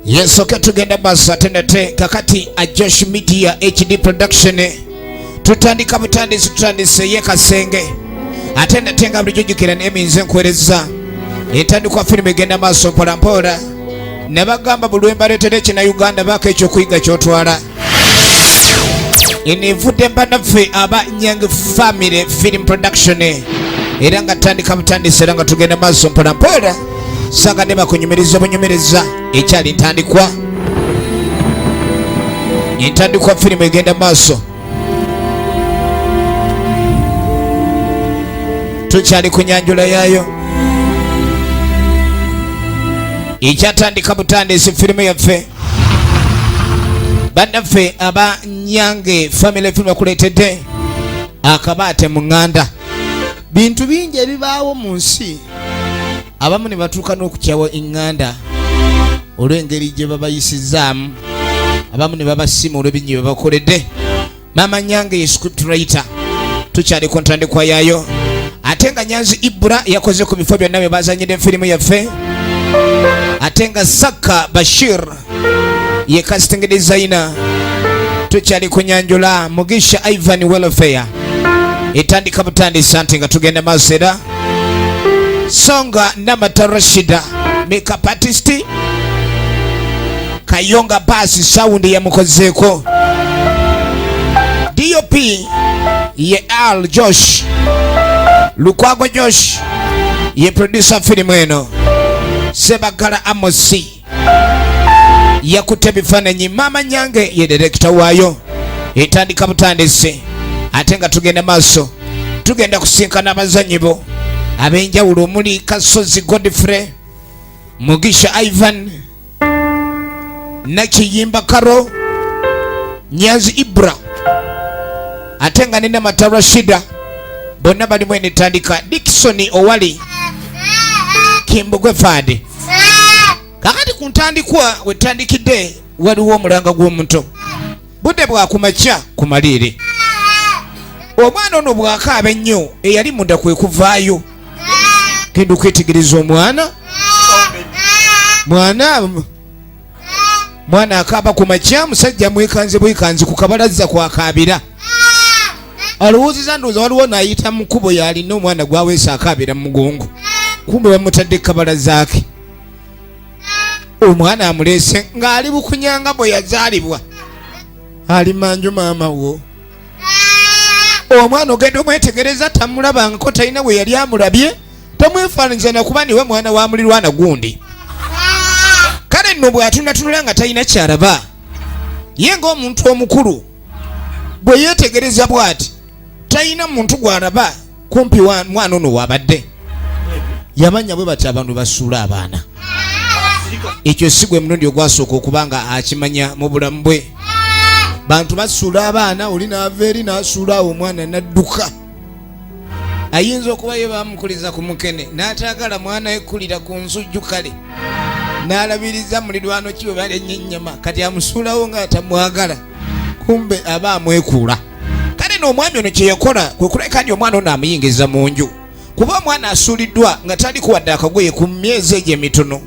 yensoke tugenda maaso ate nate kakati ajosh media hd production tutandika butandisi tutandise ye kasenge ate nate nga bulijjo jukira nemi nze nkuwereza entandikwa firimu egenda maaso mpolampola ne bagamba bulwembaletera ekina uganda baako ekyokuyiga kyotwala eno evudde mbanaffe aba nyang family film production era nga tandika butandisi era nga tugenda maaso mpolampola sagadde bakunyumiriza obunyumiriza ekyali ntandikwa entandikwa firimu egenda maaso tukyali ku nyanjula yaayo ekyatandika butandisi firimu yaffe bannaffe aba nyange family film bakuleetedde akabaate mu ŋŋanda bintu bingi ebibaawo mu nsi abamu ne batuuka n'okukyawa eŋŋanda olw'engeri gye babayisizaamu abamu ne babasiima olw'ebinyi bye bakoledde maama nyange ye script writer tukyali ku ntandikwa yaayo ate nga nyanzi ibura yakoze ku bifo byonna bye bazanyidde firimu yaffe ate nga saka bashir ye casting designer tukyali kunyanjula mugisha ivan welfare etandika butandisa nti nga tugenda maaso era songa namata rashida makeup artist Kayonga baasi sawundi yamukozeeko. DOP ye Al Josh Lukwago Josh ye producer filimu eno Sebagala Amosi yakutte ebifaananyi maama nyange ye direkita waayo etandika butandisi ate nga tugenda maaso tugenda kusinkana abazanyi bo ab'enjawulo omuli kasozi godfrey mugisha ivan nakiyimba karo nyanzi ibra ate nga nina mata rashida bonna balimu enetandika dikisoni owali kimbugwe faade kakati ku ntandikwa wetandikidde waliwo omulanga gw'omuto budde bwa ku makya ku maleere omwana ono bwakaaba ennyo eyali munda kwe kuvaayo genda okwetegereza omwana mwana mwana akaaba ku makya musajja mwekanze bwekanzi ku kabalazza kwakaabira alowoozeza ndowooza waliwo naayita mu kkubo yalina omwana gwaweesa akaabira mu mugongo kumbe bamutadde ku kabalazaake omwana amuleese ng'ali bukunyanga bwe yazaalibwa ali manju maama wo omwana ogenda omwetegereza tamulabangako talina we yali amulabye tomwefaananyiza nakuba niwe mwana wa mulirwana gundi kale nno bw'atunatunula nga talina kyalaba ye ng'omuntu omukulu bwe yeetegereza bw'ati talina muntu gw'alaba kumpi wa mwana ono wabadde yabanya bwe bati abantu basuula abaana ekyo si gwe mulundi ogwasooka okuba nga akimanya mu bulamu bwe bantu basuula abaana oli naava eri nasuula awo omwana nadduka ayinza okuba ye bamukuliza ku mukene n'ataagala mwana ekulira ku nsujju kale n'alabiriza mulirwano kiwe balenye ennyama kati amusuulawo ng'atamwagala kumbe aba amwekuula kale n'omwami ono kye yakola kwe kuleka nti omwana ono amuyingiza mu nju kuba omwana asuuliddwa nga taliku wadde akagoye ku myezi egyo emitono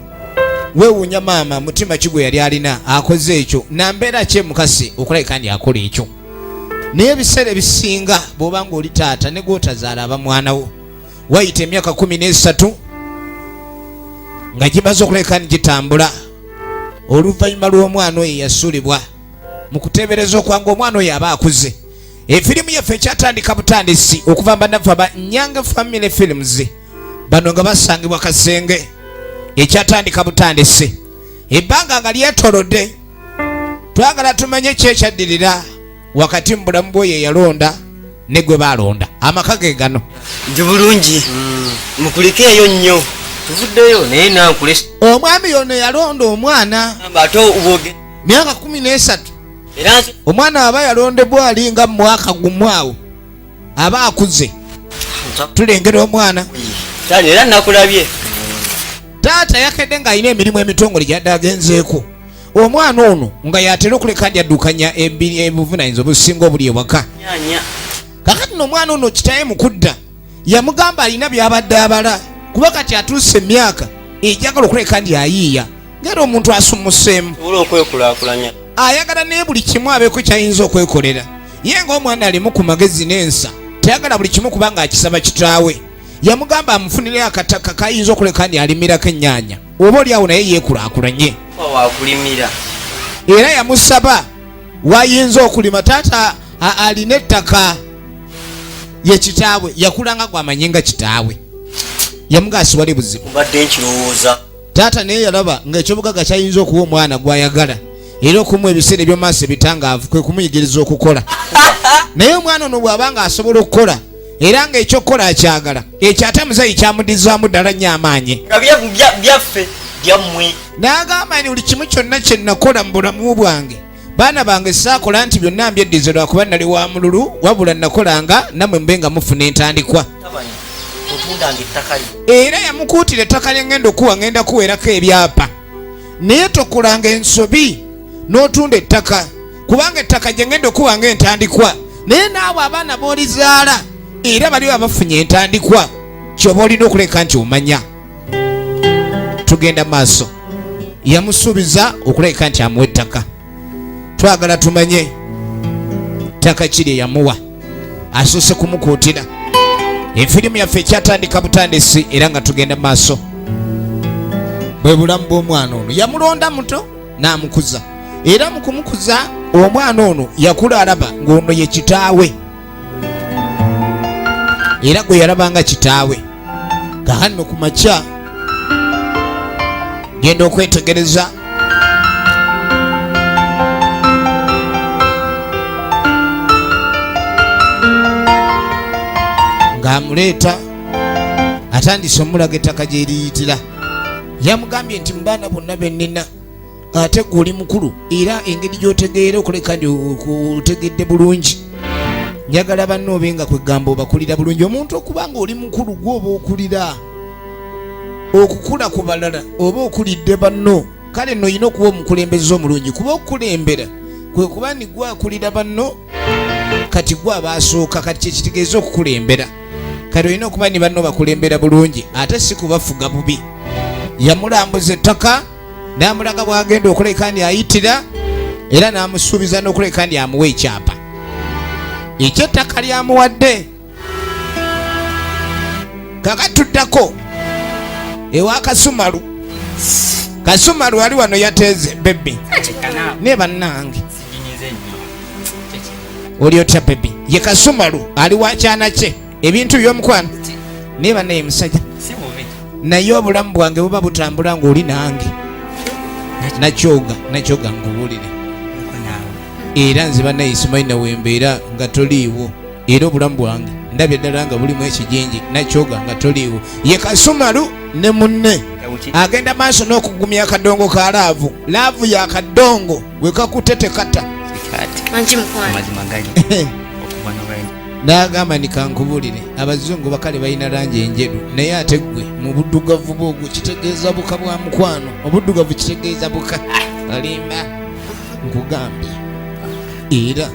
weewuunya maama mutima ki gwe yali alina akoze ekyo nambeera ki emukasi okulabika nti akola ekyo naye ebiseera ebisinga bw'oba nga oli taata ne gwotazaala aba mwana wo wayita emyaka kumi n'esatu nga gimaze okulabika ni gitambula oluvannyuma lw'omwana oyo yasuulibwa mu kuteebereza okwange omwana oyo aba akuze efirimu yaffe ekyatandika butandisi okuva mbanafu aba nyanga family films bano nga basangibwa kasenge ekyatandika butandisi ebbanga nga lyetolodde twagala tumanye ki ekyaddirira wakati mu bulamu bwoyo eyalonda ne gwe baalonda amaka ge gano nju bulungi hmm. mukulikeeyo nnyo tuvuddeyo naye nankulesa omwami yono yalonda omwana ate myaka kumi n'esatu omwana aba yalondebwa ali nga mumwaka gumu awo aba akuze tulengera omwana era nakulabye taata yakedde ng'alina emirimu emitongole gyadde agenzeeko omwana ono nga yatera okuleka ndi addukanya ebuvunanyizibwa obusinga obuli ewaka kakati no omwana ono kitaye mukudda yamugamba alina byabadde abala kuba kati atuuse emyaka ejagala okuleka ndi ayiiya ngera omuntu asumuseemu okwekulakulanya ayagala naye buli kimu abeeko kyayinza okwekolera ye ngaomwana alimu ku magezi n'ensa tayagala buli kimu kubanga akisaba kitaawe yamugamba amufunire akataka kayinza okuleka ndi alimirako ennyaanya oba oli awo naye yeekulakulanye era yamusaba wayinza okulima taata alina ettaka ye kitaawe yakulanga gwamanye nga kitaawe yamugaasi wali buzibu mbadde nkirowooza taata naye yalaba ng'ekyobugaga kyayinza okuwa omwana gwayagala era okumuwa ebiseera ebyomaaso ebitangaavu kwe kumuyigiriza okukola naye omwana ono bw'aba nga asobola okukola era ng'ekyokukola akyagala ekyo ate muzeyi kyamudizaamu ddala nnyo amaanyi byaffe byammwe n'agamba ni buli kimu kyonna kye nakola mu bulamu bwange baana bange saakola nti byonna mbyeddize lwakuba nali wa mululu wabula nakolanga namwe mube nga mufuna entandikwa era yamukuutira ettaka lyengenda okuwa ngenda kuwerako ebyapa naye tokolanga ensobi n'otunda ettaka kubanga ettaka gye ngenda okuwa nga entandikwa naye naawe abaana b'olizaala era baliwo abafunye entandikwa kyoba olina okuleka nti omanya tugenda maaso yamusuubiza okulabika nti amuwa ettaka twagala tumanye ttaka kiri eyamuwa asoose kumukuutira efirimu yaffe ekyatandika butandisi era nga tugenda maaso bwe bulamu bw'omwana ono yamulonda muto n'amukuza era mu kumukuza omwana ono yakula alaba ng'ono ye kitaawe era gwe yalabanga kitaawe kahanno ku makya genda okwetegereza ng'amuleeta atandise omulaga ettaka gyeriyitira yamugambye nti mu baana bonna bennina ate gwe oli mukulu era engeri gyotegeera okuleka ndi otegedde bulungi njagala banna obe nga kwegamba obakulira bulungi omuntu okuba nga oli mukulu gwe oba okulira okukula ku balala oba okulidde banno kale no olina okuba omukulembeze omulungi kuba okukulembera kwe kuba ni gwe akulira banno kati gwe abaasooka kati kyekitegeeza okukulembera kati olina okuba ni banno bakulembera bulungi ate si kubafuga bubi yamulambuza ettaka n'amulaga bw'agenda okuleka ndi ayitira era n'amusuubiza n'okuleka ndi amuwa ekyapa ekyettaka lyamuwadde kakatuddako ewa kasumalu kasumalu ali wano yateeze bebi ne bannange oli otya bebi ye kasumalu ali wakyana kye ebintu byomukwano naye banaye musajja naye obulamu bwange buba butambula ngaoli nange nakyoga nakyoga ngubuulire era nze banaye simanyi nawembeera nga toliiwo era obulamu bwange ndabye ddala nga bulimu ekijinji nakyoga nga toliiwo ye kasumalu ne munne agenda maaso n'okugumya akadongo ka laavu laavu ya kadongo wekakutte tekata n'agamba ni kankubulire abazungu bakale balina langi enjeru naye ate ggwe mu buddugavu bwo ogwo kitegeeza buka bwa mukwano obuddugavu kitegeeza buka alimba nkugambye era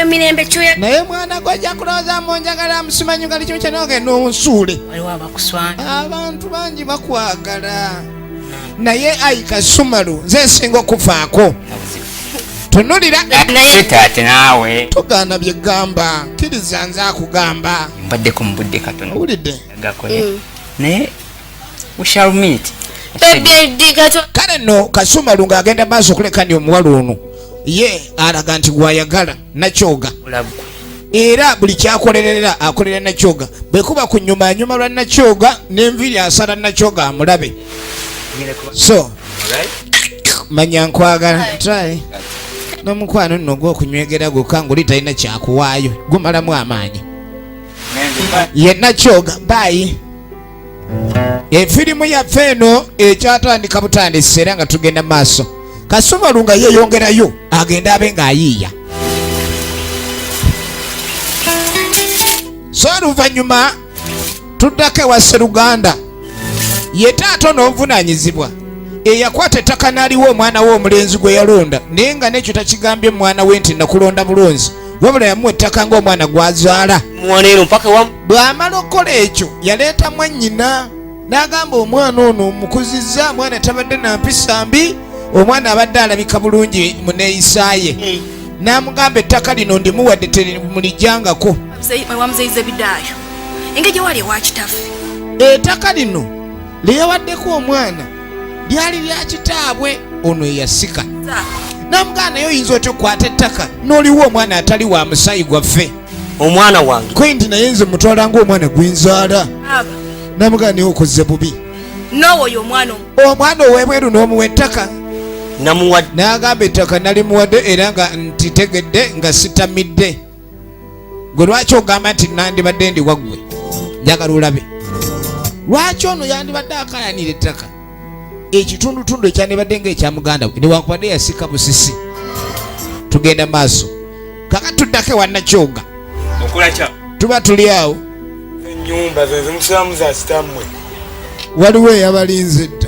emirembe kyoya naye mwana gwe ajja kulowooza mu njagala amusimanyi nga likimu kyanogenda onsuule abantu bangi bakwagala naye ayi kasumalu nze nsinga okuvaako tunulira naye taate naawe tugaana bye gamba kiriza nze akugamba mbaddeko mu budde katono owulidde gakole mm. naye we shall meet kale no kasumalu ng'agenda maaso okulekani omuwala ono ye alaga nti gwayagala nakyoga era buli kyakolerera akolera nakyoga bwekuba ku nyuma anyuma lwa nakyoga nenviri asala nakyoga amulabe so manya nkwagala try nomukwano nno gwokunywegera gwokka ngoli talina kyakuwaayo gumalamu amaanyi yenakyoga baayi efirimu yaffe eno ekyatandika butandisi era nga tugenda maaso kasumalu nga yeyongerayo agende abe ng'ayiiya so oluvannyuma tuddako ewa seruganda ye taata onoovunanyizibwa eyakwata ettaka n'aliwo omwana we omulenzi gwe yalonda naye nga n'ekyo takigambye omwana we nti nakulonda bulonzi wabula yamuwa ettaka ng'omwana gwazaala bw'amala okukola ekyo yaleeta mwannyina n'agamba omwana ono omukuzizza mwana tabadde na mpisa mbi omwana abadde alabika bulungi mu neeyisa ye hmm. n'amugamba ettaka lino ndimuwadde temulijjangako wewamuzeyiza ebidaayo engeri gyewali ewakitaffe ettaka lino liyawaddeko omwana lyali lya kitaabwe ono eyasika namugana naye oyinza otya okukwata ettaka noliwo omwana atali wa musaayi gwaffe omwana wange kwe nti naye nze mutwala ngaomwana gwinzaala namugana naye okoze bubi omwana owebweru n'omuwa ettaka n'agamba ettaka nalimuwadde era nga ntitegedde nga sitamidde gwe lwaki ogamba nti nandibadde ndi waggwe njagala olabe lwaki ono yandibadde akayanira ettaka ekitundutundu ekyandibadde nga ekya muganda we newankubadde yasika busisi tugenda maaso kaka tuddako ewanakyoga tuba tuli awo enyumba zezimusiramu za sitamwe waliwo eyabalinze dda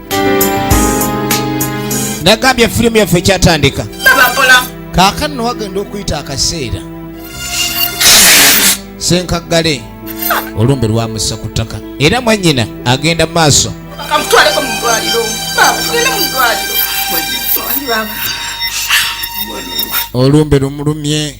nagambye firimu yaffe ekyatandika kaakano nowagenda okuyita akaseera senkaggale olumbe lwamussa ku ttaka era mwannyina agenda mu maaso olumbe lumulumye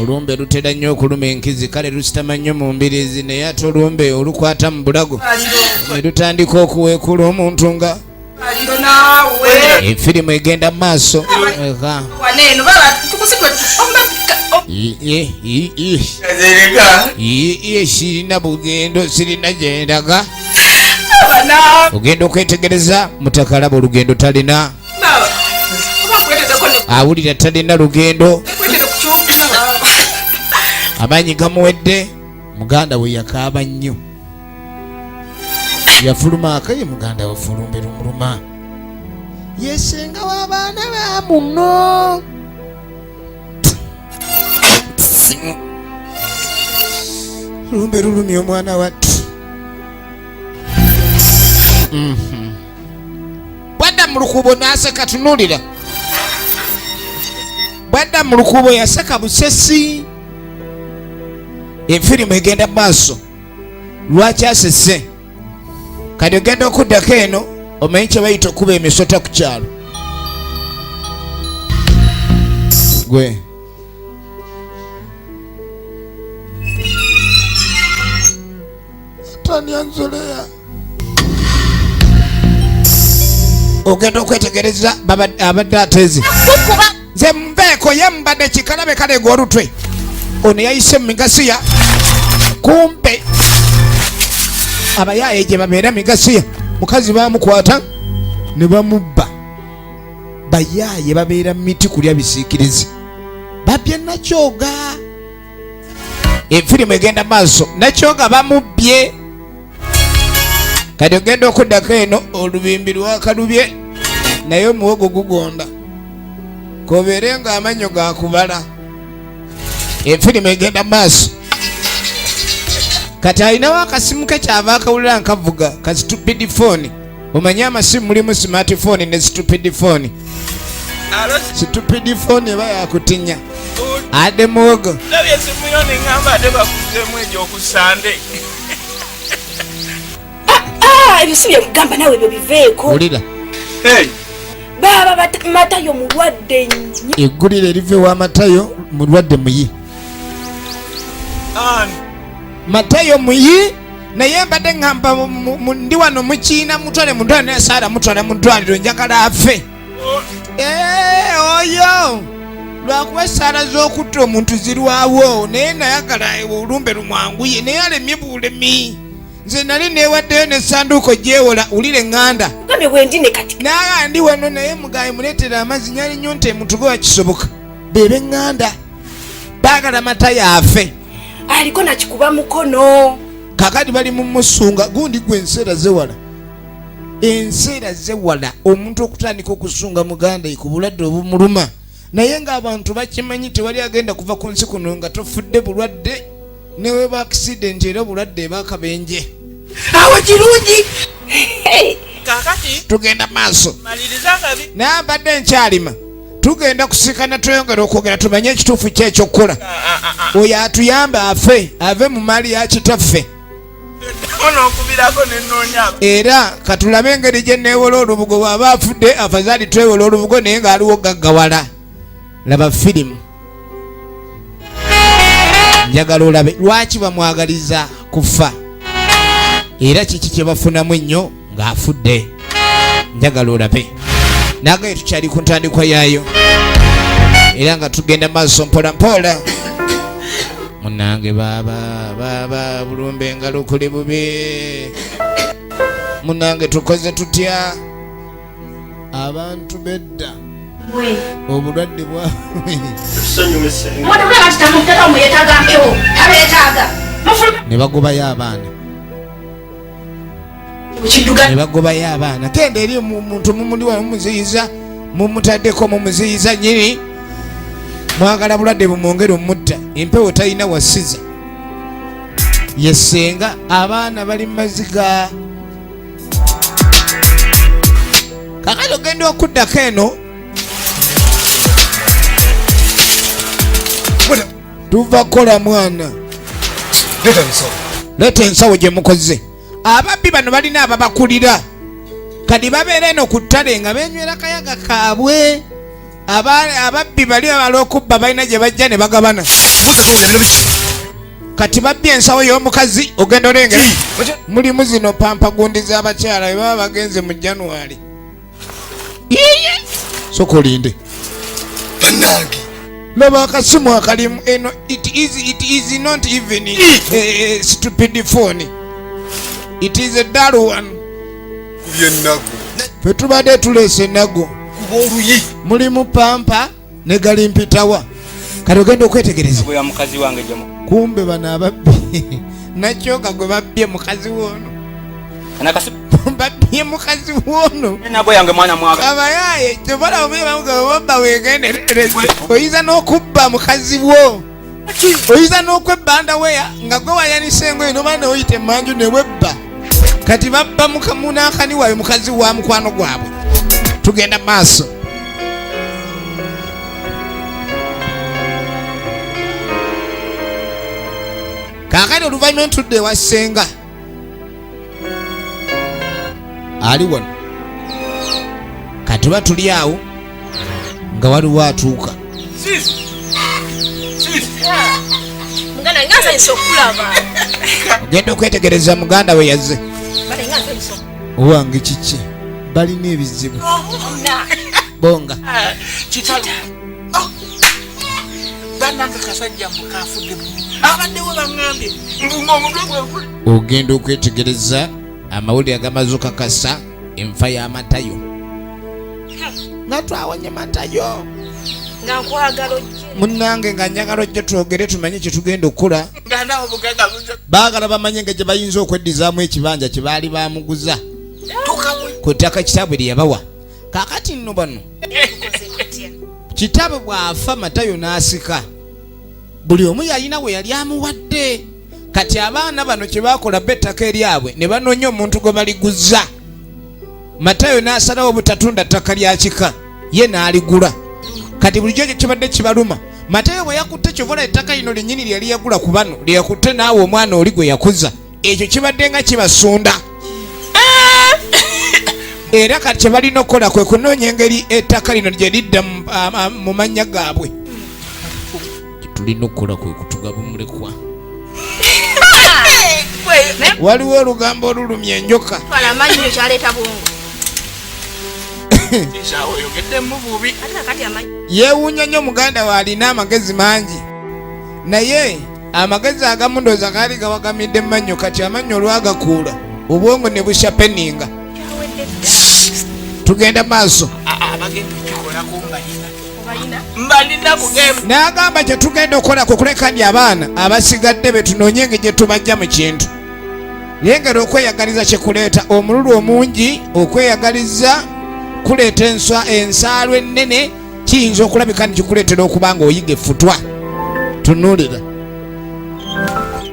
olumbe lutera nnyo okuluma enkizi kale lusitama nnyo mu mbirizi naye ate olumbe olukwata mu bulago ne lutandika okuweekula omuntu nga efirimu egenda mu maaso sirina bugendo sirina gyendaga ogenda okwetegereza mutakalaba olugendo talina awulira talina lugendo amaanyi gamuwedde muganda we yakaaba nnyo yafuluma akaye muganda we fulumbera omuluma yesenga w'abaana ba muno lumbe lulumya omwana watti mm-hmm. bwadda mu lukuubo n'aseka tunuulira bwadda mu lukuubo yaseka busesi enfirimu egenda mu maaso lwaki asese kati ogenda okuddako eno omanyi kye bayita okuba emisota ku kyalo gwe tani anzoleya ogenda okwetegereza abadde atezi nze mbeeko ye mbadde kikalabe kaleega olutwe ono yayise mu migasiya kumpe abayaaye gye babeera migasiya mukazi bamukwata ne bamubba bayaaye babeera mu miti kulya bisiikirizi babye nakyoga efirimu egenda maaso nakyo nga bamubbye kati ogenda okuddako eno olubimbi lwakalubye naye omuwogo gugonda kobeere nga amanyo gakubala efirimu egenda maaso kati alinawo akasimu ke kyava akawulira nkavuga kazitupidi fooni omanyi amasimu mulimu smart phone ne stupid phone stupid phone eba yakutinya ade muwogo ah, ah, ebisibye kugamba nawe ebyo biveeko wulira baba matayo mulwadde nnyo eggulire eriva ewa matayo mulwadde muyi matayo muyi naye mbadde ŋŋamba ndi wano mukiina mutwale mu ddwaliro naye saara mutwala mu ddwaliro njagala afe eh, oyo lwakuba esaala z'okutta omuntu zirwawo naye nayagala olumbe lumwanguye naye alemye bulemi nze nali newaddeyo nesanduuko gyewola wulire ŋŋanda naga ndi wano naye mugayi muleetera amazzi nyali nyo nti emutuge wakisoboka bebe ŋŋanda baagala mata yaafe aliko nakikuba mukono kakati bali mumusunga gundi gwe enseera zewala enseera zewala omuntu okutandika okusunga muganda ku bulwadde obumuluma naye ng'abantu bakimanyi tewali agenda kuva ku nsi kuno nga tofudde bulwadde neweba akisidenti era obulwadde ebakabenje awo kirungi kakati tugenda maaso naye mbadde nkyalima tugenda kusikana tweyongera okwogera tumanye ekituufu kye ekyokukola oyo atuyambe afe ave mu maali ya kitaffe era katulabe engeri gye neewola olubugo bwaba afudde afazaali twewola olubugo naye ng'aliwo gaggawala laba firimu njagala olabe lwaki bamwagaliza kufa era kiki kyebafunamu ennyo ng'afudde njagala olabe nagaye tukyali ku ntandikwa yaayo era nga tugenda maaso mpola mpola munange baaba baaba bulumba engalo kuli bubi munange tukoze tutya abantu bedda obulwadde bwane bagobayo abaana ne bagobayo abaana tenda eri muntu mumuliwa mumuziyiza mumutaddeko mumuziyiza nyini mwagala bulwadde bumwongere omutta empewo talina wasiza yesenga abaana bali mumaziga kakati ogenda okuddako eno tuva kukola mwana leeta ensawo gye mukoze ababbi bano balina ababakulira kadi babeera eno ku ttale nga benywera kayaga kaabwe ababbi bali alokubba balina gye bajja ne bagabana kati babbye ensawo y'omukazi ogenda olengera mulimu zino pampa gundi z'abakyala we baba bagenze mu januwali sokolinde banange laba akasimu akalimu eno it is, it is not even a, a stupid phone it is a dull one fe tubadde tuleese ennago mulimu pampa ne galimpitawa kati ogenda okwetegereza kumbe bano ababbi nakyoka gwe babbye mukazi woono babbye mukazi woono abayaye kyobalabamuyebamugababba wegenderereze oyinza n'okubba mukazi wo oyinza n'okwebbanda weya nga gwe wayanisa engoye noba neoyita emanju newebba kati babba munankani wayo mukazi wa mukwano gwabwe tugenda maaso kakati oluvanyuma entudde ewa senga ali wano katuba tuli awo nga waliwo atuuka ogenda okwetegereza muganda we yazze owange kiki balina ebizibu bonga ah, ogenda okwetegereza amawulire agamaze okakasa enfa y'amatayo nga twawonye matayo munange nga njagala ojje twogere tumanye kyetugenda okukola baagala bamanye nga gye bayinza okweddizamu ekibanja kye baali bamuguza ku ttaka kitaabwe lye yabawa kakati nno bano kitabe bw'afa matayo n'asika buli omu yalina we yali amuwadde kati abaana bano kye bakola ba ettaka eryabwe ne banoonya omuntu gwe baliguza matayo n'asalawo obutatunda ttaka lya kika ye n'aligula kati bulijjo ekyo kibadde kibaluma matayo bwe yakutte kyovola ettaka lino lyennyini lyeyali yagula ku bano lyeyakutte naawe omwana oli gwe yakuza ekyo kibadde nga kibasunda era kati kyebalina okukola kwe kunoonya engeri ettaka lino gye lidda mu mannya gaabwe tulina okukola kwe kutugaba omulekwa waliwo olugambo olulumya enjoka yeewuunya nnyo muganda we alina amagezi mangi naye amagezi agamu ndooza gaali gawagamidde mannyo kati amannyo olwagakuula obwongo ne bushapeninga tugenda maaso n'agamba kye tugenda okukola ku kulekani abaana abasigadde be tunoonye engeri gye tubajja mu kintu yengera okweyagaliza kye kuleeta omululu omungi okweyagaliza kuleeta enswa ensaalwa ennene kiyinza okulabika nti kikuleetera okuba nga oyiga effutwa tunulira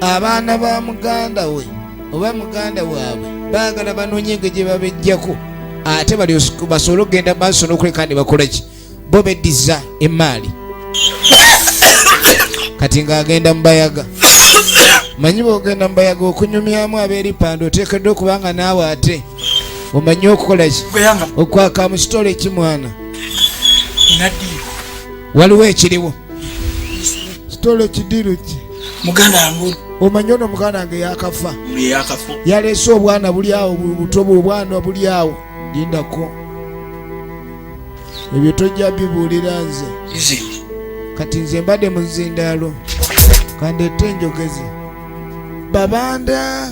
abaana ba muganda we oba muganda waabwe baagala banoonye nga gye babejjako ate basobole okugenda maaso n'okuleka ne bakola ki bo beddiza emaali kati ng'agenda mubayaga manyi bwogenda mubayaga okunyumyamu abeeripanda oteekeddwa okubanga naawe ate omanyi okukola ki okwaka mu kitole kimwana waliwo ekiriwo kitole kidiru ki muganda wange omanyi ono muganda wange yakafa yaleese obwana buli awo buto bwobwana buli awo lindako ebyo tojja bibuulira nze kati nze mbadde mu nzindaalo kandete enjogeze babanda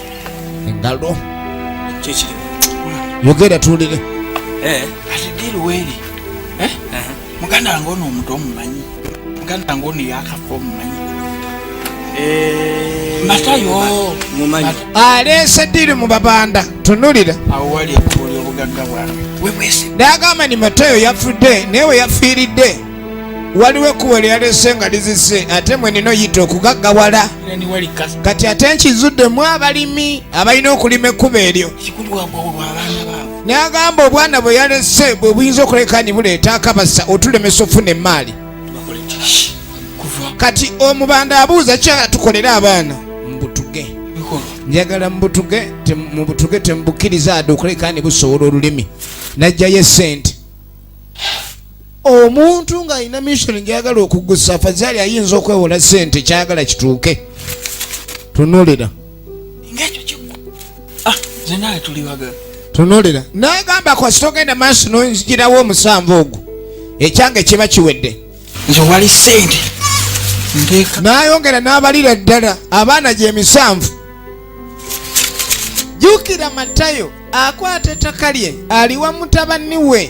engalo yogera tuwulire eh, ati diiru weeri eh? muganda wange ono omuntu omumanyi muganda wange ono yakafa omumanyi eh, matayo aleese diiru mu babanda tunulira awo wali ekkuuli obugagga bwange nagamba ni matayo yafudde naye we yafiiridde waliwo ekkubo lyeyalese nga lizise ate mwenina oyita okugaggawala kati ate nkizuddemu abalimi abalina okulima ekkubo eryo nagamba obwana bwe yalese bwe buyinza okuleka ni buleeta akabasa otulemesa ofuna emaali kati omubanda abuuza kyala tukolere abaana mubutuge njagala mubutuge mubutuge temubukkiriza ade okuleka ni busobola olulimi najjayo esente omuntu ng'alina mission gyagala okugusa afazaali ayinza okwewola sente kyagala kituuke tunulira ah, tunulira nagamba kwasita ogenda maaso nonzigirawo omusanvu ogwo ekyange kiba kiwedde nze wali sente nayongera n'abalira ddala abaana gyemisanvu jukira matayo akwata ettaka lye aliwa mutabani we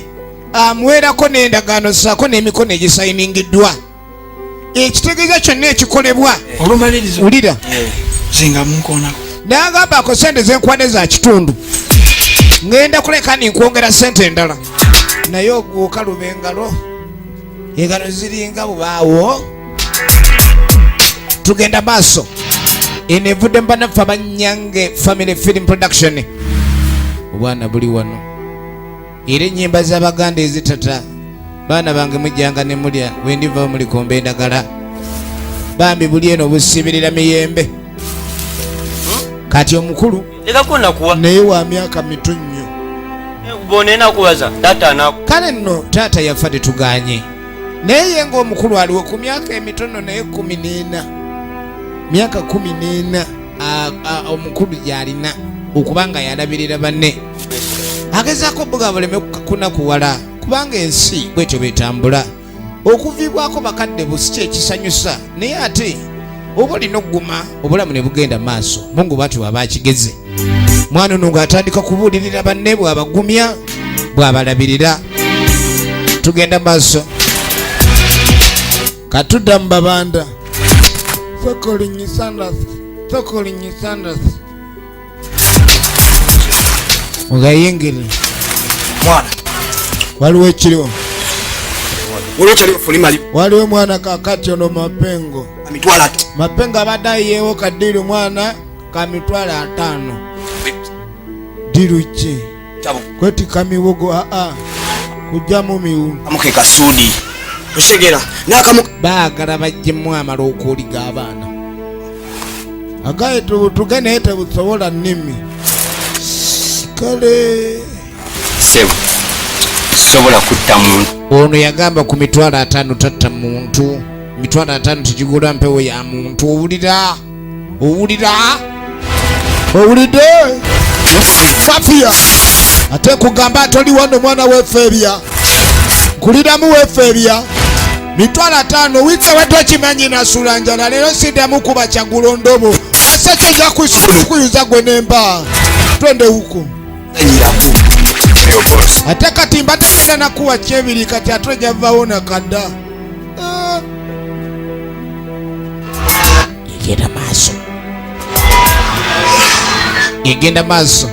amuweerako n'endagaano saako n'emikono egisayiningiddwa ekitegeeza kyonna ekikolebwa olumaliriza wulira zinga munkoonako nagamba ako sente zenkwane za kitundu ngenda kuleka ninkwongera sente endala naye oguuka lubengalo engalo ziringa bubaawo tugenda maaso eno evudde mubanaffe abanyange family film production obwana buli wano era enyimba zabaganda ezitata baana bange mujjanga nemulya wendiva mulikomba endagala bambi buli eno obusibirira miyembe kati omukulu naye wa myaka mitu nnyo kale nno taata yafa tetuganye naye ye ng'omukulu aliwo ku myaka emitono naye kumi n'ena myaka kumi n'ena omukulu gyalina okuba nga yalabirira banne agezaako buga buleme kunakuwala kubanga ensi bwetyo betambula okuviibwako bakadde busi kyekisanyusa naye ate oba olina okuguma obulamu ne bugenda maaso mungu bwatyo waba akigeze mwana ono ng'atandika kubuulirira banne bw'abagumya bw'abalabirira tugenda maaso katudda mu babanda mugayingire mwana waliwo ekiriwo waliwo mwana kakati ono mapengo mapengo abadde ayiyeewo kaddiiri mwana ka mitwalo ataano dirukye kwetika miwogo aa kujjamu miwu amuke kasuudi okitegera nakamu baagala bajjemu amala okuwuliga abaana agaye tubutuge naye tebusobola nnimi kale sebo sobola kutta muntu ono yagamba ku mitwalo ataano tatta muntu mitwalo ataano tegigula mpewo ya muntu owulira owulira owulidde fafia ate nkugamba toli wano mwana wefeebya nkuliramu wefeebya mitwalo ataano wiiki ewedde okimanyi nasula njala leero siddamu kuba kyagulo ndobo asajja oja kuyuza gwe nemba twende huko ate kati mbatagenda nakuwa kyebiri kati ate ojavawo nakadda yegenda maaso yegenda maaso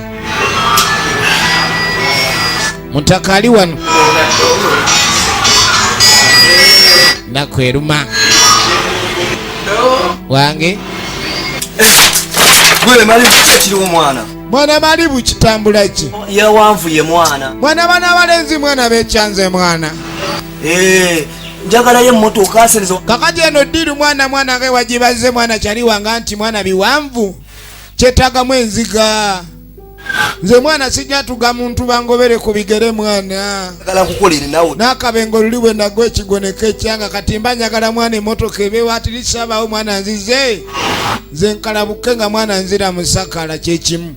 mutaka ali wano naku eruma wange mwana malibu kitambula ki yawanvuye mwana mwana bana balenzi mwana bekyanze mwana Eh, njagalayo emmotoka sirizo kakati eno ddiru mwana mwana ge wagibaze mwana kyali wanga nti mwana biwanvu kyetagamu enziga nze mwana sijatuga muntu bangobere ku bigere mwana n'akabengo luli bwe nagwa ekigoneko ekyanga kati mba njagala mwana emotoka ebewaatirisabaawo mwana nzize nze nkalabuke nga mwana nzira musakala kyekimu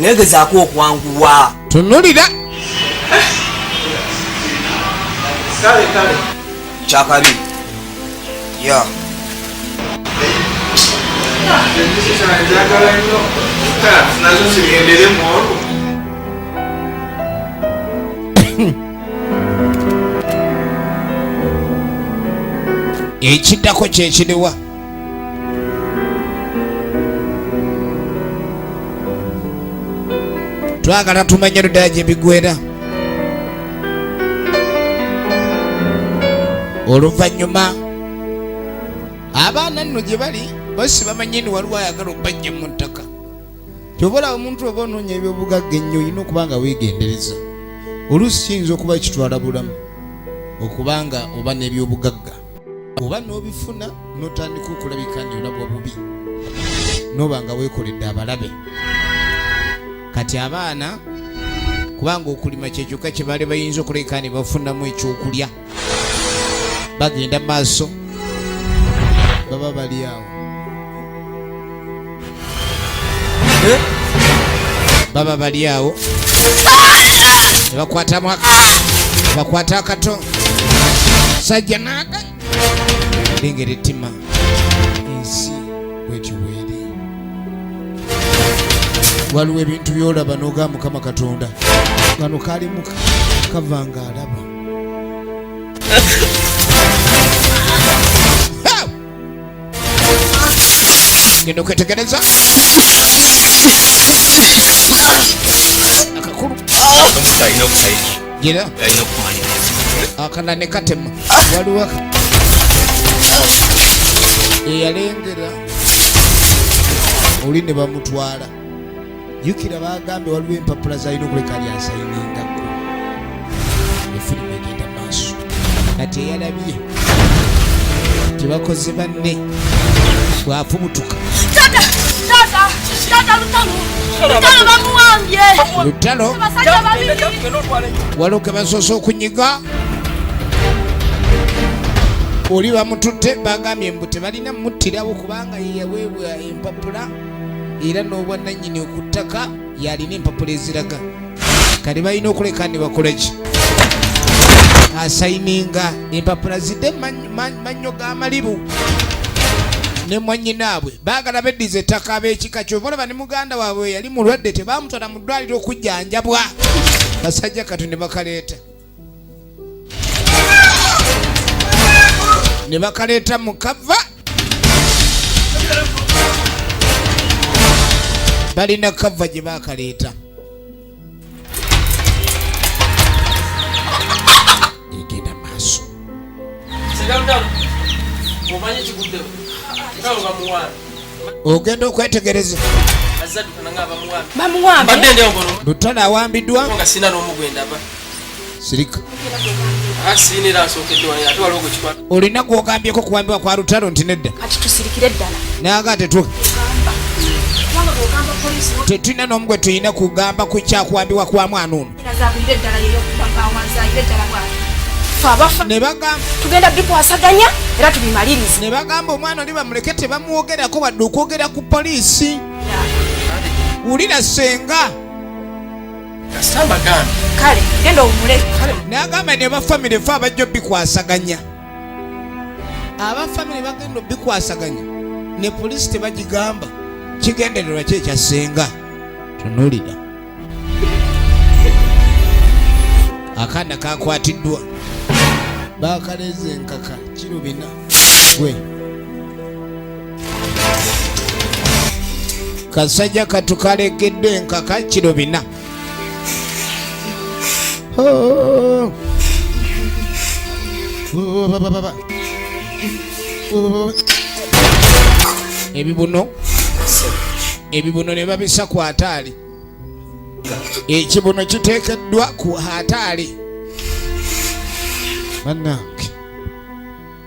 negezaako okwanguwa tunulira kyakabi ya ekiddako kyekiriwa twagala tumanye luddala gye bigwera oluvannyuma abaana nno gye bali basi bamanye ni waliwo ayagala okubajja mu ttaka kyoba olaba omuntu oba onoonya ebyobugagga ennyo olina okuba nga weegendereza oluusi kiyinza okuba kitwala bulamu okuba nga oba n'ebyobugagga oba n'obifuna n'otandika okulabika nti olabwa bubi n'oba nga weekoledde abalabe kati abaana kubanga okulima kyekyokka kye baali bayinza okuleka ne bafunamu ekyokulya bagenda maaso baba bali awo eh? baba bali awo nebakwatamu bakwata akato sajja naga lengera ettima ensi bwetyo bweri waliwo ebintu byolaba noga mukama katonda kano kalimuka kava nga alaba ngenda okwetegereza akakulu gira akala ne katema waliwo eyalengera oli ne bamutwala jukira bagambe waliwo empapula zalina okuleka lyasayiningako efirimu egenda maaso kati eyalabye tebakoze banne bwafubutuka lutalo waliwo kebasoose okunyiga oli bamututte bagambye mbu tebalina muttirawo kubanga yeyaweebwa empapula era n'obwannannyini ku ttaka yalina empapula eziraga kati balina okuleka ne bakola ki asayininga empapula zidde mannyo ga malibu ne mwanyinaabwe baagala beddiza ettaka ab'ekika kyova olaba ne muganda waabwe yali mulwadde tebaamutwala mu ddwaliro okujjanjabwa basajja kati ne bakaleeta ne bakaleeta mu kava balina kava gye baakaleeta egenda maaso ogenda okwetegereza lutalo awambiddwa sirika olina gwogambyeko kuwambibwa kwa lutalo nti nedda naga tetu tetulina nomu gwe tulina kugamba ku kyakuwambibwa kwa mwana ono ne bagamba omwana oli bamuleke tebamwogerako wadde okwogera ku poliisi wulira senga kasita mbagambye kale genda owumule kale nagamba ne bafamire fe abajja obikwasaganya abafamire bagenda obikwasaganya ne polisi tebagigamba kigendererwa ki ekyassenga tunulira akaana kakwatiddwa bakaleeza enkaka kirubina gwe kasajja katu kalekedde enkaka kiro bina oh. ebibuno ebibuno ne babisa ku ataali ekibuno kiteekeddwa ku ataali bannange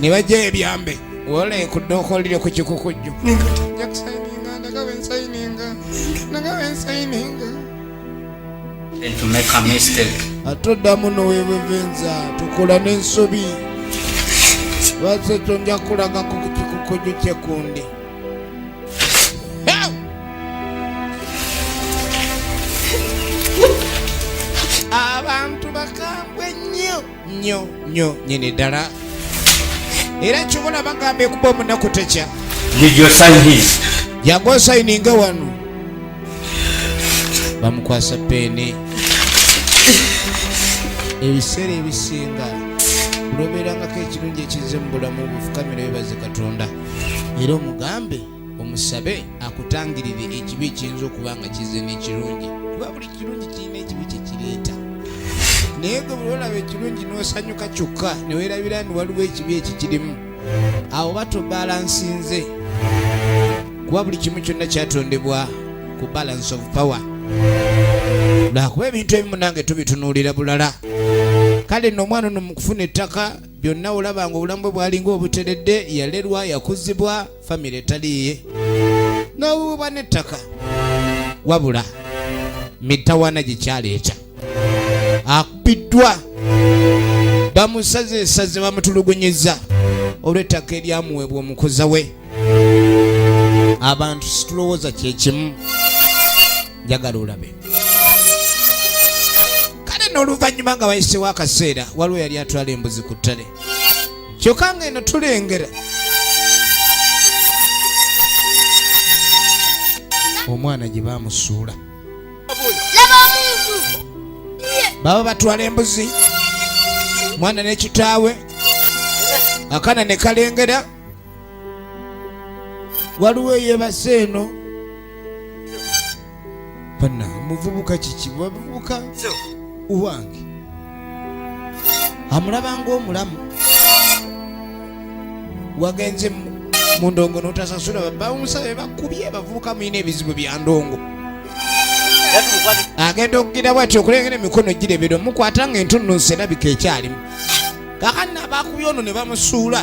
ne bajja ebyambe wola ekudde okolire ku kikukujju atoddamu nowebevenza tukula n'ensobi lwaki ekyo nja kulagako ku kikukujju kyekundi abantu bakambwe nnyo nnyo nnyo nyini ddala era kyobola bagamba ekuba omunaku tekya yaga osayininga wano bamukwasa peeni ebiseera ebisinga kulobeerangako ekirungi ekizze mu bulamu bufukamira bebaze katonda era omugambe omusabe akutangirire ekibi ekiyinza okuba nga kize n'ekirungi kuba buli kirungi kirina ekibi kyekireeta naye gwe buli olaba ekirungi n'osanyuka kyokka ne weerabira nti waliwo ekibi ekikirimu awo batobalansinze kuba buli kimu kyonna kyatondebwa ku balance of power lwakuba ebintu ebimu nange tubitunuulira bulala kale nno omwana ono mu kufuna ettaka byonna olaba nga obulamu bwe bwalinga obuteredde yalerwa yakuzibwa famire etaliiye n'obububa n'ettaka wabula mitawana gye kyaleeta akubiddwa bamusaze esaze bamutulugunyiza olw'ettaka eryamuweebwa omukuza we abantu situlowooza kyekimu njagala olabe kale n'oluvannyuma nga wayisewo akaseera waliwo yali atwala embuzi ku ttale kyokka nga eno tulengera omwana gye bamusuula baba batwala embuzi mwana ne kitaawe akana ne kalengera waliwo eyebase eno bana muvubuka kiki bavubuka uwange amulaba ngaomulamu wagenze mu ndongo notasasula babawunsabe bakubye bavubuka mulina ebizibu bya ndongo agenda okugira bwati okulengera emikono girebera omukwata nga entunnunsi erabika ekyalimu kakana bakubye ono ne bamusuula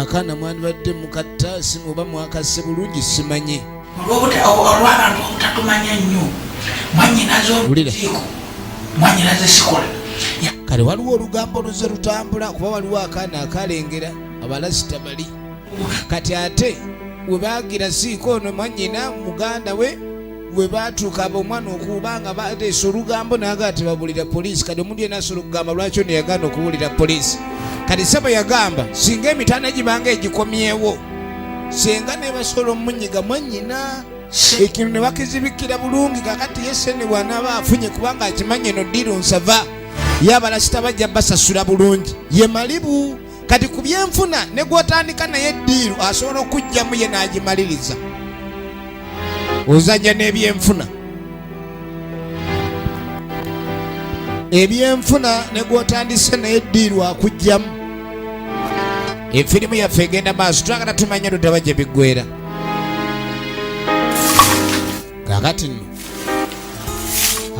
akaana mwandibadde mukatta simu oba mwakasse bulungi simanyi olwabantu obutatumanya nnyo mwanyinaze olukiiko mwanyinaze sikola kale waliwo olugambo luze lutambula kuba waliwo akaana akalengera abalasita bali kati ate webagira siiko ono mwanyina muganda we bwe baatuuka ab'omwana okuba nga bateesa olugambo naga tebabulira poliisi kati omuntu yena asobola okugamba lwaki ono yagaana okubuulira poliisi kati sebo yagamba singa emitanda gibanga egikomyewo senga nebasobola omunyiga mwanyina ekintu ne bakizibikira bulungi kakati yesene bwanaaba afunye kubanga akimanye no diru nsava yabalasita bajja basasula bulungi ye malibu kati ku byenfuna ne gwotandika naye eddiiru asobola okujjamu ye n'agimaliriza ozajja n'ebyenfuna ebyenfuna ne gwotandise naye eddiiru akujjamu efirimu yaffe egenda maaso twagala tumanya lutaba gye biggwera kakati nno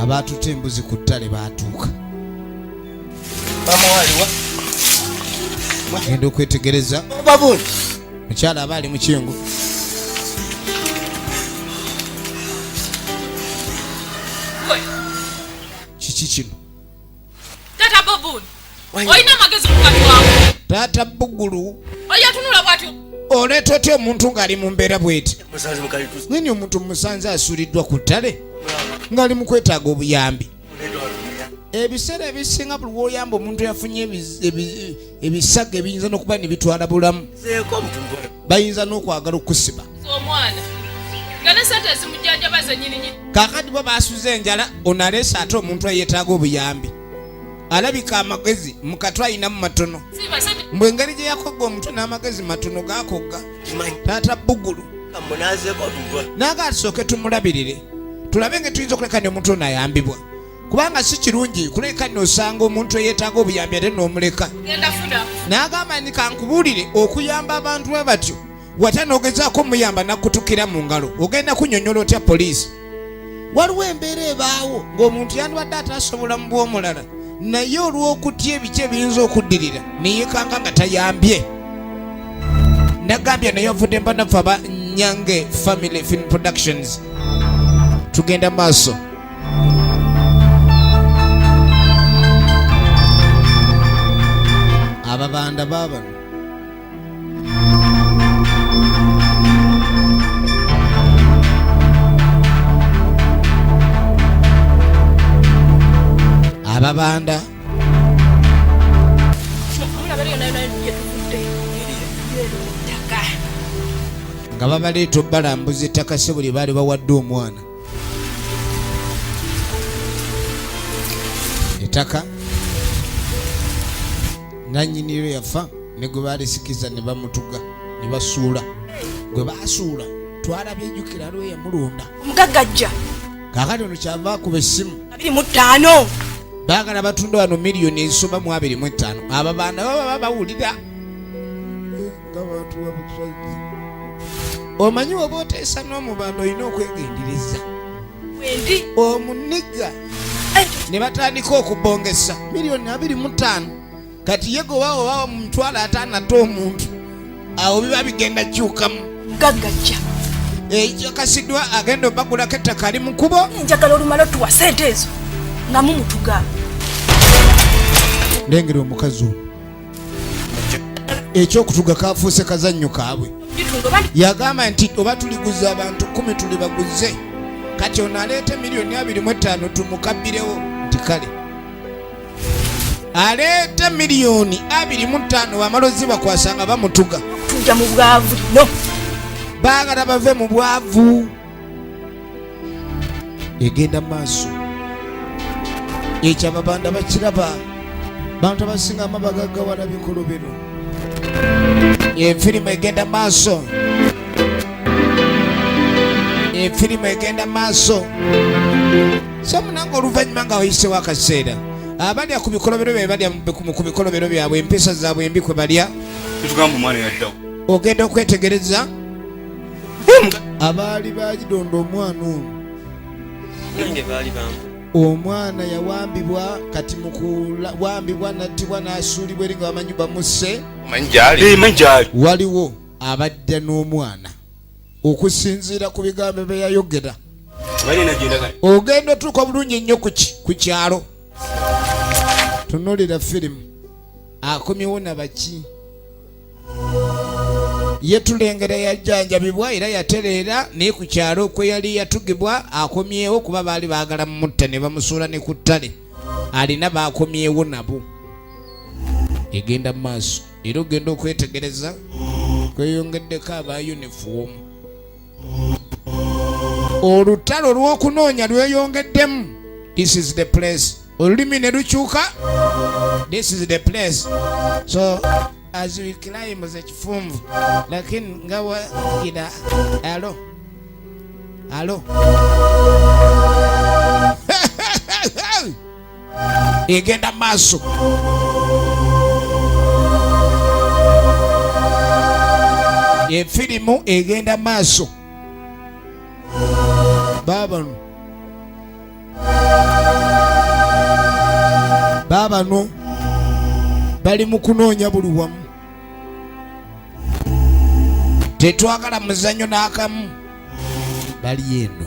abaatuta embuzi ku ttale baatuuka genda okwetegereza mukyala aba ali mukingu kiki kino olina amagezi mukatwawo taata bugulu oyatunula bwatyo oleeta otya omuntu ng'ali mu mbeera bweti nyini omuntu musanze asuliddwa ku ttale ng'ali mu kwetaaga obuyambi ebiseera ebisinga buli woyamba omuntu yafunye ebisaga ebiyinza nokuba nebitwala bulamu bayinza nokwagala okusiba kakati bo basuza enjala onalesa ate omuntu ayetaaga obuyambi alabika amagezi mukatw ayinamu matono mbwengeri gyeyakogga omuntu n'amagezi matono gakogga taata bugulu naga tusooke tumulabirire tulabe nga tuyinza okuleka ne omuntu ono ayambibwa kubanga si kirungi kuleka nosanga omuntu eyetaaga obuyambi ate nomuleka nagamba ni kankubuulire okuyamba abantu bwe batyo wata nogezaako omuyamba nakutukira mu ngalo ogenda kunyonyola otya poliisi waliwo embeera ebaawo ng'omuntu yandibadde atasobola mu bw'omulala naye olw'okutya ebiki ebiyinza okuddirira neyekanga nga tayambye nagambye naye avudde mbanaffe aba nyange family film productions tugenda maaso ababanda babano ababanda nga babaleeta obalambuza ettaka si buli baali bawadde omwana ettaka nanyiniro yafa ne gwe baalisikiza ne bamutuga ne basuula gwe baasuula twalabye ejjukira aliwo yamulunda omugagga ajja kaakati ono kyava akuba essimu abiri mu ttaano baagala batunda wano miliyoni ezisoba mu abiri mu ettaano abo baana baba babawulira nga bantu babusazi omanyi oba oteesa n'omubanda olina okwegendereza wendi omuniga eh. ne batandika okubongesa miliyoni abiri mu ttaano kati yego wawo wawa mu mitwalo ataano ate omuntu awo biba bigenda kyukamu gagajja ekikakasiddwa eh, agenda obagulako ettaka ali mukubo njagala olumala otuwa sente ezo nga mumutuga lengera omukazi ono ekyokutuga kafuuse kazannyo kaabwe yagamba nti oba tuliguza abantu kumi tuli baguze kati ono aleete miliyoni abiri mu ettaano tumukabbirewo nti kale aleeta miliyoni abiri mu ttaano wamala ozibakwasa nga bamutuga tuja mu bwavu no baagala bave mu bwavu egenda maaso ekyababanda bakiraba bantu abasinga amabagagawala bikulu bino efirimu egenda maaso efirimu egenda maaso so munange oluvannyuma nga wayisewo akaseera abalya ku bikolobero bye balya ku bikolobero byabwe empisa zaabwe embi kwe balya tetugamba omwana yaddawo ogenda okwetegereza abaali bagidonda omwana ono omwana yawambibwa kati mukuwambibwa nattibwa n'asuulibwa eri nga bamanyi bamusse waliwo abadda n'omwana okusinziira ku bigambo bye yayogera ogenda otuuka bulungi ennyo ku kyalo tunulira firimu akomyewo nabaki yetulengera yajjanjabibwa era yatereera naye ku kyalo okweyali yatugibwa akomyewo kuba baali baagala mumutta ne bamusuula ne ku ttale alina baakomyewo nabo egenda mu maaso era ogenda okwetegereza kweyongeddeko aba yunifoomu olutalo lw'okunoonya lweyongeddemu this is the place olulimi ne lukyuka this is the place so as we climb the kifunvu lakini nga wagira alo alo egenda maaso efirimu egenda maaso babano babano bali mu kunoonya buli wamu tetwagala muzanyo n'akamu bali eno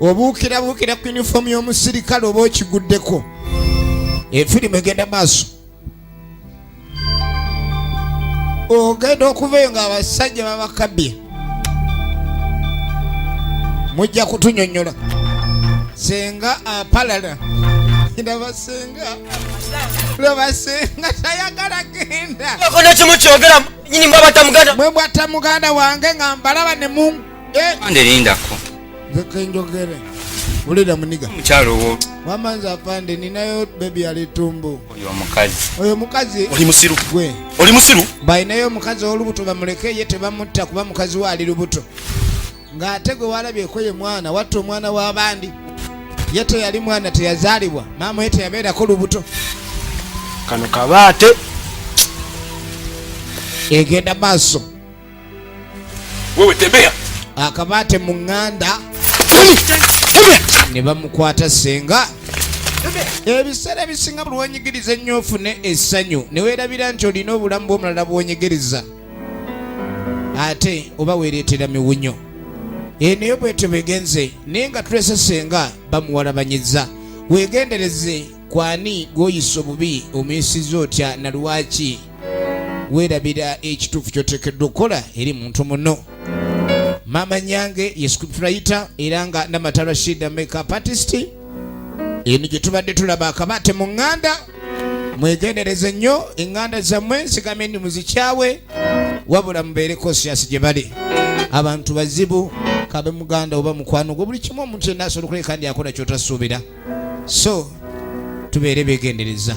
obuukirabuukira ku yunifoomu y'omusirikale oba okiguddeko efirimu egenda maaso ogenda okuvayo nga abasajja babakabye mujja kutunyonyola senga apalala ndabasenga lwebasenga tayagala genda kono kimu kyogera nyini mwe bwata muganda wange nga mbalaba ne mungu Ande linda ko. Nze kenjogere. Ulida muniga. Mchalo wo. Mama nza afande ninayo baby ali tumbu. Oyo mukazi. Oyo mukazi. Oli musiru. Gwe. Oli musiru. Bai nayo mukazi olubuto bamuleke ye tebamutta kuba mukazi wa ali lubuto. Nga atego walabye ko ye mwana watto mwana wa bandi. Yete yali mwana teyazalibwa. Mama yete yabera ko lubuto. Kano kabate. Egenda maso. Wewe tembea. Akabate mu nganda ne bamukwata senga ebiseera ebisinga buli wenyigiriza ennyo ofune essanyu ne weerabira nti olina obulamu bw'omulala bwonyigiriza ate oba weereetera miwunyo eneyo bwetyo begenze naye nga tulese senga bamuwalabanyiza weegendereze kwani gwoyisa obubi omuyisiza otya na lwaki weerabira ekituufu kyoteekeddwa okukola eri muntu muno maama nyange ye script writer era nga namata rashida makeup artist eno gye tubadde tulaba akabate mu ŋŋanda mwegendereze nnyo eŋŋanda zammwe nsigame ndi muzikyawe wabula mubeere kosiyasi gye bali abantu bazibu kabe muganda oba mukwano gwe buli kimu omuntu yenna asobola okuleka ndi akola kyotasuubira so tubeere begendereza